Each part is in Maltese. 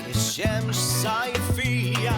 Ix-xemx sajfija.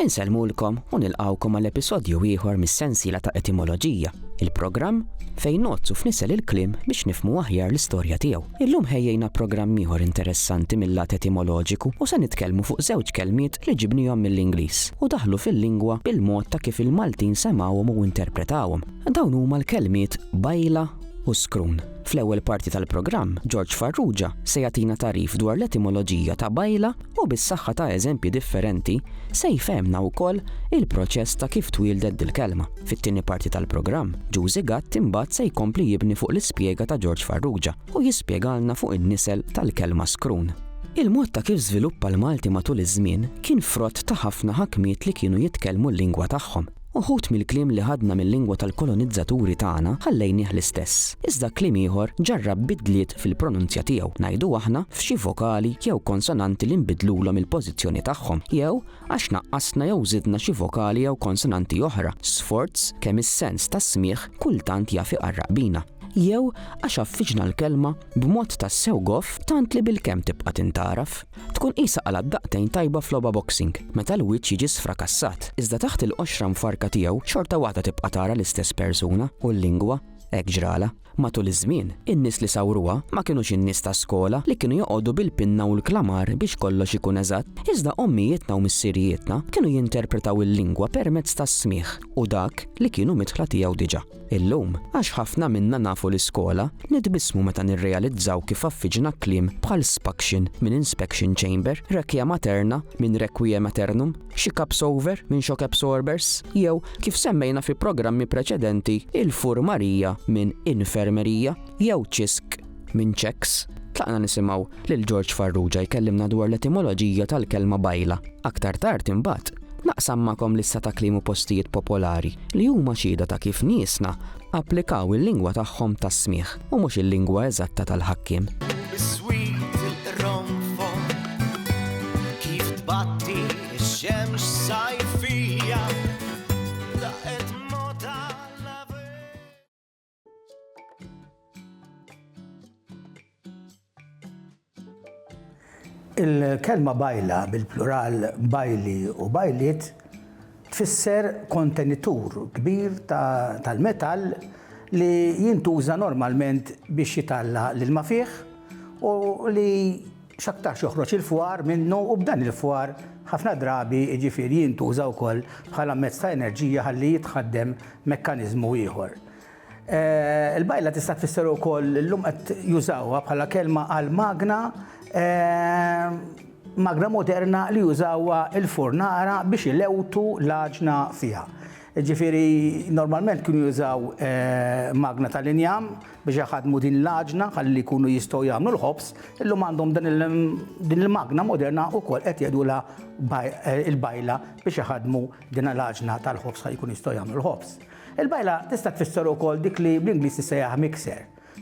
Insellmulkom u nilqawkom għal episodju ieħor mis-sensiela ta' etimoloġija, il-programm fejn nozzu f'nisel il-klim biex nifmu aħjar l-istorja tiegħu. Illum ħejjejna programm ieħor interessanti mill-lat etimoloġiku u se nitkellmu fuq żewġ kelmiet li ġibnihom mill-Ingliż u daħlu fil-lingwa bil-mod ta' kif il-Maltin semgħuhom u interpretawhom. Dawn huma l-kelmiet bajla u Skrun. Fl-ewwel parti tal-programm, George Farrugia se jagħtina tagħrif dwar l-etimoloġija ta' bajla u bis-saħħa ta' eżempji differenti se jfehmna wkoll il-proċess ta' kif twieldet dil-kelma. Fit-tieni parti tal-programm, Ġużi Gatt imbagħad se jkompli jibni fuq l-ispjega ta' George Farrugia u jispjegalna fuq in-nisel tal-kelma skrun. Il-mod ta' kif żviluppa l-Malti matul iż-żmien kien frott ta' ħafna ħakmiet li kienu jitkellmu l-lingwa tagħhom. Uħud mill-kliem li ħadna mil-lingwa tal-kolonizzaturi tagħna ħallejnieh l-istess, iżda kliem ieħor ġarrab bidliet fil-pronunzja tiegħu, ngħidu aħna, f'xi vokali jew konsonanti li nbidlulhom il-pożizzjoni tagħhom, jew għax naqqasna jew żidna xi vokali jew konsonanti oħra, sforz kemm is-sens tas-smigħ kultant jaf iqarraq bina. Jew għax għaffiġna l-kelma b'mod tassew goff tant li bilkemm tibqa' tintgħaraf? Tkun qisha qalgħat daqtejn tajba f'logħba boxing meta l-wiċċ jiġi sfrakassat, iżda taħt il-qoxra mfarrka tiegħu xorta waħda tibqa' tara l-istess persuna u l-lingwa hekk ġralha. Matul iż-żmien, in-nies li sawruha ma kinux in-nies ta' skola li kienu joqogħdu bil-pinna u l-klamar biex kollox ikun eżatt, iżda ommijietna u missirijietna kienu jinterpretaw il-lingwa permezz tas-smigħ u dak li kienu midħla tiegħu diġà. Illum, għax ħafna minna nafu l-iskola, nitbissmu meta nirrealizzaw kif affiġna kliem bħal spaction minn inspection chamber, requia materna minn requiem aeternum, xi cups over minn shock absorbers, jew, kif semmejna fi programmi preċedenti, il-furmarija minn infermerija jew ċisk. Minn Checks, tlaqna nisimgħu lil George Farrugia jkellimna dwar l-etimoloġija tal-kelma bajla. Aktar tard imbagħad, naqsam magħkom lista ta' kliem u postijiet popolari li huma xhieda ta' kif niesna applikaw il-lingwa tagħhom tas-smigħ u mhux il-lingwa eżatta tal-ħakkiem. Il-kelma bajla bil-plural bajli u bajliet tfisser kontenitur kbir tal-metall li jintuża normalment biex jitalla l-ilma fih u li x'aktarx joħroġ il-fwar minnu u b'dan il-fwar ħafna drabi jiġifieri jintuża wkoll bħala mezz ta' enerġija ħalli jitħaddem mekkaniżmu ieħor. Il-bajla tista' tfisser ukoll illum qed jużawha bħala kelma għal magna magna moderna li jużawha l-furnara biex ilewtu l-għaġna fiha. Jiġifieri normalment kienu jużaw magna tal-injam Biex iħaddmu din l-għaġna ħalli jkunu jistgħu jagħmlu l-ħobż, illum għandhom din il-magna moderna wkoll qed jgħidulha il-bajla biex iħaddmu din l-għaġna tal-ħobż ħalli jkunu jistgħu jagħmlu l-ħobż. Il-bajla tista' tfisser ukoll dik li bl-Ingliż tissejjaħ mixer,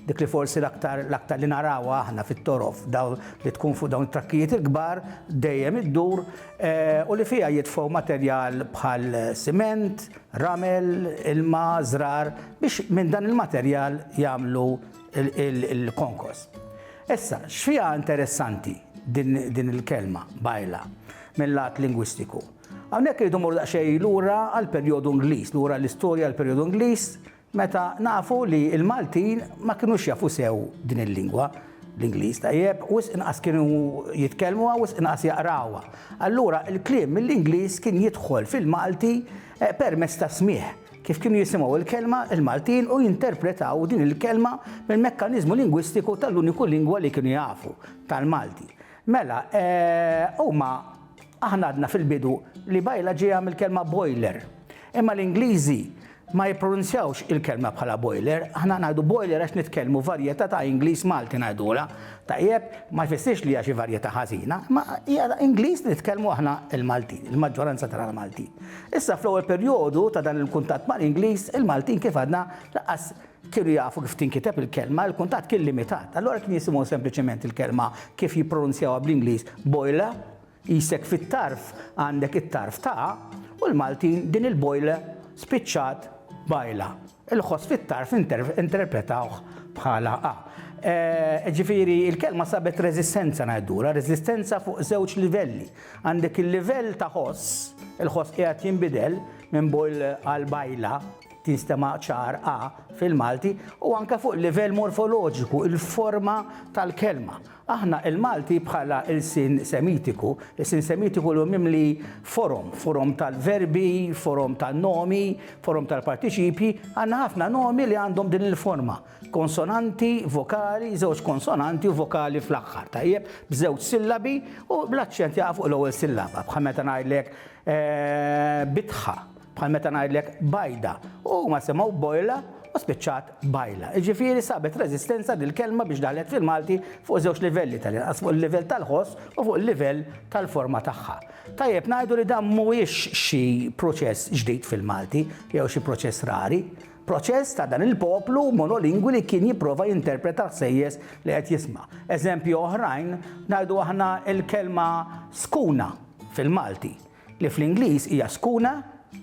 dik li forsi l-aktar l-aktar li narawha aħna fit-torof dawn li tkun fuq dawn it-trakkijiet il-kbar dejjem iddur eh, u li fiha jitfgħu materjal bħal siment, ramel, ilma, żrar biex minn dan il-materjal jagħmlu l-konkos. Issa, x'fiha interessanti din il-kelma bajla mill-lat lingwistiku? Hawnhekk irridu mmorru daqsxejn lura għall-perjodu Ingliż, lura l-istorja għall-perjodu Ingliż Meta nafu li l-Maltin ma kinux jafu sew din il-lingwa, l-Ingliż tajjeb, wisq inqas kienu jitkellmuha, wisq inqas jaqrawha. Allura l-kliem mill-Ingliż kien jidħol fil-Malti permezz tas-smigħ, kif kienu jisimgħu l-kelma l-Maltin u jinterpretaw din il-kelma mill-mekkaniżmu lingwistiku tal-uniku lingwa li kienu jafu, tal-Malti. Mela, huma, aħna għadna fil-bidu li bajla ġejja mill-kelma boiler, imma l-Ingliżi, ma jippronunzjawx il-kelma bħala boiler, aħna ngħidu boiler għax nitkellmu varjetà ta' Ingliż Malti ngħidulha, tajjeb, ma jfissirx li hija xi varjetà ħażina, imma hija Ingliż li nitkellmu aħna l-Maltin, il-maġġoranza tagħna l-Maltin. Issa fl-ewwel perjodu ta' dan il-kuntatt mal-Ingliż, il-Maltin kif għadna lanqas kienu jafu kif tinkiteb il-kelma, il-kuntatt kien limitat. Allura kien jisimgħu sempliċement il-kelma kif jippronunzjawha bl-Ingliż boiler, Qisek fit-tarf għandek it-tarf ta' u l-Maltin din il-bojla spiċċat bajla. Il-ħoss fit-tarf interpretawh bħala a. Ġifieri l-kelma sabet reżistenza ngħidulha, reżistenza fuq żewġ livelli. Għandek il-livell ta' ħoss, il-ħoss qiegħed jinbidel minn bojl għal bajla, tinstema' ċar a fil-Malti, u anke fuq livell morfoloġiku, il-forma tal-kelma. Aħna il-Malti bħala lsien Semitiku, lsien Semitiku li hu mimli forom, forom tal-verbi, forom tan-nomi, forom tal-partiċipji, għandna ħafna nomi li għandhom din il-forma, konsonanti, vokali, żewġ konsonanti u vokali fl-aħħar, tajjeb, b'żewġ sillabi u bl-aċċent jaqa' fuq l-ewwel sillaba, bħal meta ngħidlek, Bitħa. Bħal meta ngħidlek bajda. U huma semgħu bojla u spiċċat bajla. Jiġifieri sabet reżistenza dil-kelma biex daħlet fil-Malti fuq żewġ livelli tal-inqas, fuq il-livell tal-ħoss u fuq il-livell tal-forma tagħha. Tajjeb ngħidu li dan mhuwiex xi proċess ġdid fil-Malti jew xi proċess rari. Proċess ta' dan il-poplu monolingwi li kien jipprova jinterpreta ħsejjes li qed jisma'. Eżempju oħrajn ngħidu aħna l-kelma skuna fil-Malti. Li fl-Ingliż hija skuna,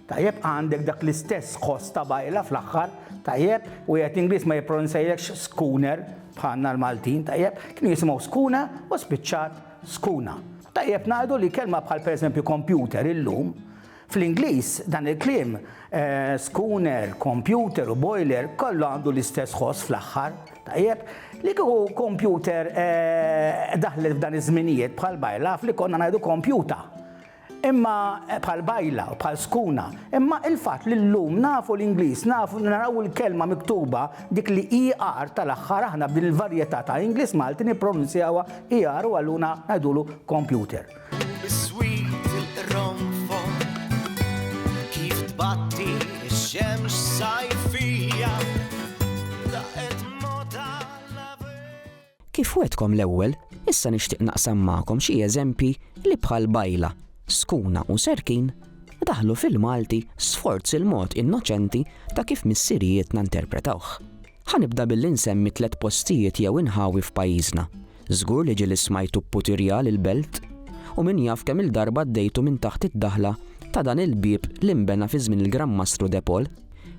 tajjeb, għandek dak l-istess ħoss ta' bajla fl-aħħar, tajjeb, wieħed Ingliż ma jippronunzajekx schooner bħalna l-Maltin, tajjeb, kienu jisimgħu skuna u spiċċat skuna. Tajjeb ngħidu li kelma bħal pereżempju computer illum, fl-Ingliż dan il-kliem schooner, computer u boiler kollu għandu l-istess ħoss fl-aħħar. Tajjeb, li kieku kompjuter daħlet f'dan iż-żminijiet bħal bajla naf li konna ngħidu kompjuta. Imma bħal bajla, bħal skuna, imma il-fatt li llum nafu l-Ingliż, nafu naraw il-kelma miktuba dik li ER tal-aħħar aħna b'din il-varjetà ta' Ingliż Malti nippronunzjawha ER u allura ngħidulu kompjuter. Kif wetkom l-ewwel, issa nixtieq naqsam magħkom xi eżempji li bħal bajla, skuna u serkin daħlu fil-Malti sforz il-mod innoċenti ta' kif missirijiet interpretawh. Ħanibda billi nsemmi tliet postijiet jew inħawi f'pajjiżna Żgur li ġieli smajtu pputirja l-belt u min jaf kemm-il darba għaddejtu minn taħt id-daħla ta' dan il-bieb li nbena fi żmien il-Gran Mastru De Paul.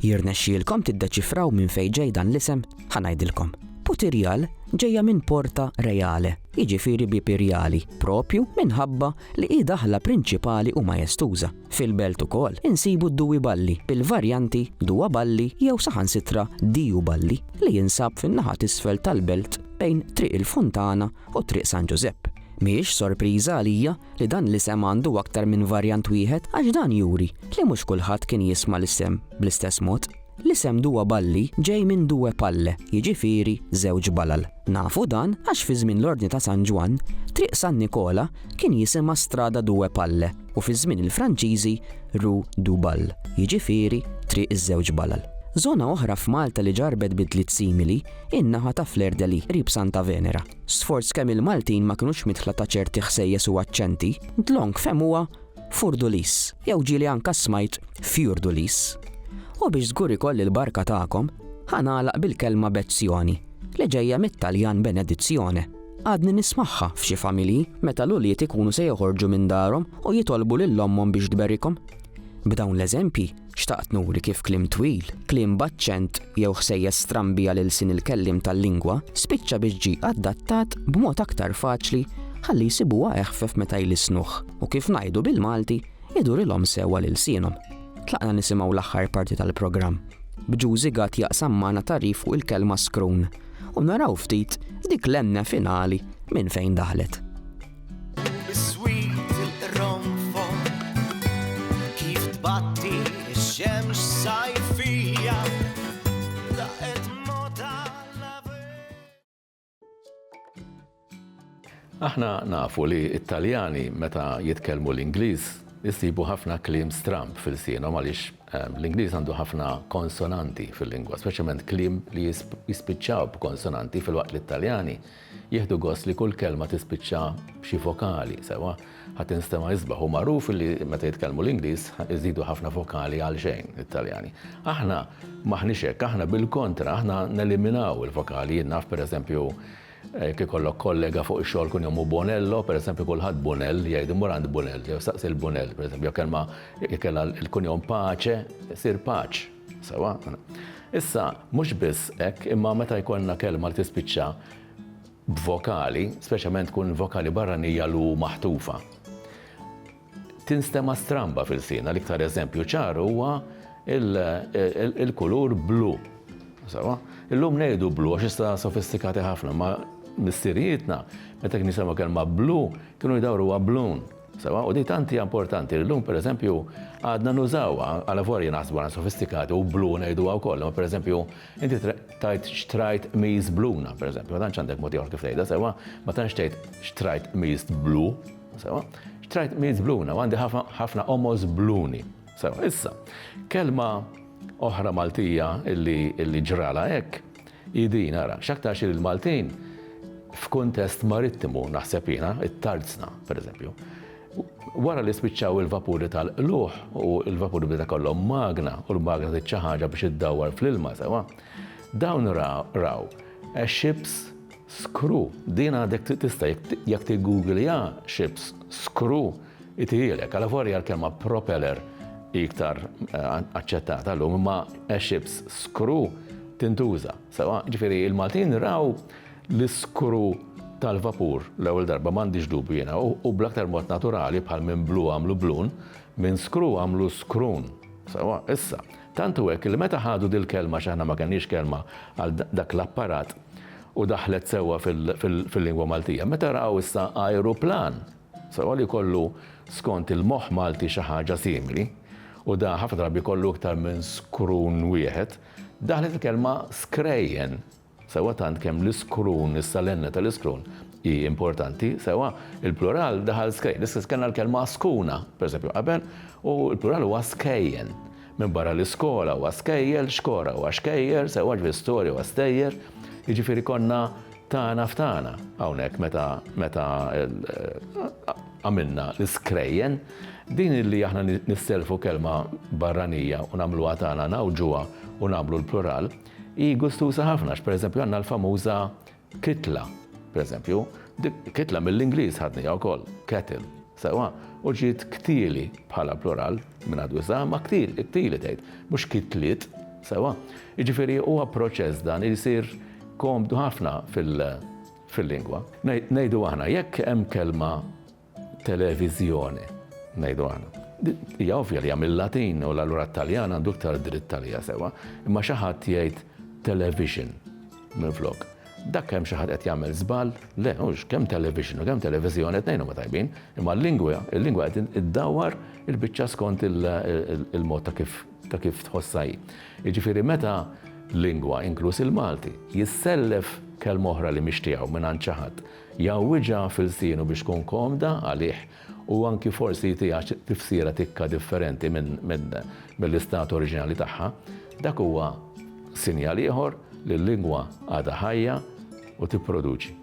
Jirnexxielkom tiddeċifraw minn fejn ġej dan l-isem? Ħa ngħidilkom. Putirjal ġejja minn porta reale, jiġifieri bieb irjali, proprju minħabba li hi daħla prinċipali u majestuża. Fil-Belt ukoll insibu d-Dewey Balli, bil-varjanti Duwa Balli jew saħansitra Diju Balli, li jinsab fin-naħa t'isfel tal-Belt bejn Triq il-Funtana u Triq San Ġużepp. Mhijiex sorpriża għalija li dan l-isem għandu aktar minn varjant wieħed għax dan juri li mhux kulħadd kien jisma' l-isem bl-istess mod. L-isem Dua Balli ġej minn Due Palle, jiġifieri żewġ balal. Nafu dan għax fi żmien l-Ordni ta' San Ġwann, Triq San Nikola kien jisimha Strada Due Palle u fi żmien il-Franċiżi Rue du Bal, jiġifieri Triq iż-Żewġ Balal. Żona oħra f'Malta li ġarrbet bidliet simili hi n-naħa ta' Fleur-de-Lys, qrib Santa Venera. Sforz kemm il-Maltin ma kinux midħla ta' ċerti ħsejjes u aċċenti, Dlonk fehmuha Furdulis, jew ġieli anka smajt Fjurdulis. U biex żgur ikolli l-barka tagħkom, ħa nagħlaq bil-kelma bezzjoni, li ġejja mit-Taljan benedizione. Għadni nismagħha f'xi familji meta l-ulied ikunu se joħorġu minn darhom u jitolbu lil ommhom biex tberikhom. B'dawn l-eżempji, Xtaqt nuri kif kliem twil, kliem b'aċċent jew ħsejjes strambi għal ilsien il-kelliem tal-lingwa spiċċa biex ġie adattat b'mod aktar faċli ħalli jsibuha eħfef meta jlissnuh u kif ngħidu bil-Malti idurilhom sew għal ilsienhom. Tlaqna nisimgħu l-aħħar parti tal-programm, b'Jużi Gatt jaqsam magħna tagħrif fuq il-kelma skrun u naraw ftit dik l-enne finali minn fejn daħlet. Aħna nafu li it-Taljani meta jitkellmu l-Ingliż jisibu ħafna kliem stramb fil-sienhom għaliex ehm, l-Ingliż għandu ħafna konsonanti fil-lingwa, speċjalment kliem li jispiċċaw b'konsonanti fil-waqt li t-Taljani Jieħdu gost li kull kelma tispiċċa b'xi vokali, sewwa, ħa tinstema' isbaħ. Hu magħruf li meta jitkellmu l-Ingliż iżidu ħafna vokali għalxejn, it-Taljani. Aħna m'aħniex hekk, aħna bil-kontra, aħna neliminaw il-vokali. Jien naf, pereżempju, jekk ikollok kollega fuq ix-xogħol kun jommu Bonello, pereżempju kulħadd Bunell jgħid, immur għand Bunell, jew staqsi lil Bunell, pereżempju, jew kelma jekk kellha l-kunjom Pace, issir Paċ. Sewwa. Issa, mhux biss hekk, imma meta jkollna kelma li tispiċċa b'vokali, speċjalment tkun vokali barranija l-u maħtufa, tinstema' stramba f'ilsienna. L-iktar eżempju ċar huwa il-kulur blu. Sewwa. Illum ngħidu blu għax issa sofistikati ħafna, imma missirijietna meta kienu jsemgħu kelma blu kienu jdawruha blun. Sewwa, u din tant hija importanti li llum pereżempju għadna nużawha għalavolja naħsbu għandna sofistikati u blu ngħiduha wkoll, imma pereżempju inti tajt xtrajt miż bluna pereżempju, ma tantx għandek mod ieħor kif tgħidha sewwa, ma tantx tgħid xtrajt miż blu, sewwa, xtrajt miż bluna u għandi ħafna qomos bluni. Sewwa, issa, kelma oħra Maltija illi ġralha hekk, Hi din, ara, x'aktarx li l-Maltin f'kuntest marittimu, naħseb jiena, it-Tarzna, pereżempju, wara li spiċċaw il-vapuri tal-qlugħ u l-vapuri beda kollhom magna u l-magna tit xi ħaġa biex iddawwar fl-ilma sewwa, dawn raw ships Screw, din għadek trid tista' jekk tiggugliha ships, screw, itihielek. Alavolja l-kelma propeller hi iktar aċċettata llum imma a ship's screw tintuża sewwa. Ġifieri l-Maltin raw l-iskru tal-vapur l-ewwel darba, m'għandix dubju jiena, u bl-aktar mod naturali bħal minn blue għamlu bloon, minn screw għamlu scroon sewwa. Issa. Tant hu hekk li meta ħadu dil-kelma x'aħna ma kellniex kelma għal dak l-apparat u daħlet sewwa fil-lingwa Maltija. Meta raw issa ajruplan sewwa li jkollu skont il-moħħ Malti xi ħaġa simili, u da ħafna drabi jkollu iktar minn skrun wieħed, daħlet il-kelma skrejjen. sewwa tant kemm l-iskrun, is-salenna tal-iskrun hi importanti, sewwa il-plural daħal skej. L-istess kellna l-kelma skuna, pereżempju, qabel, u l-plural huwa skejjen. Minbarra li skola huwa skejjel, xkora huwa xkejjer, sewwa ġifieri storja huwa stejjer, jiġifieri konna tagħna f'tagħna hawnhekk meta meta għamilna l-iskrejjen. Din li aħna nisselfu kelma barranija u nagħmluha tagħna ngħawġuha u nagħmlu l-plural, Hi gustuża ħafna għax pereżempju għandna l-famuża kitla, pereżempju, dik kitla mill-Ingliż ħadniha wkoll, kettle, sewwa, u ġiet ktieli bħala plural minn għadu issa, ma ktieli, ktieli tgħid, mhux kitliet, sewwa. Jiġifieri huwa proċess dan li jsir komdu ħafna fil-lingwa. Ngħidu aħna jekk hemm kelma televiżjoni, ngħidu aħna. Hija ovvja li hija mill-Latin u allura t-Taljan għandu iktar dritt għaliha sewwa, imma xi ħadd jgħid television minflok. Dak hemm xi ħadd qed jagħmel żball? Le, hux kemm television u kemm televiżjoni tnejn huma tajbin, imma l-lingwa, il-lingwa qed iddawwar il-biċċa skont il-mod ta' kif ta' kif tħossha hi. Jiġifieri meta lingwa, inkluż il-Malti, jissellef kelma oħra li mhix tiegħu mingħand xi ħadd, Jgħawwiġha f'ilsienu biex tkun komda għalih u anki forsi jtiha tifsira tikka differenti mill-istat oriġinali tagħha. Dak huwa sinjal ieħor li l-lingwa għadha ħajja u tipproduċi.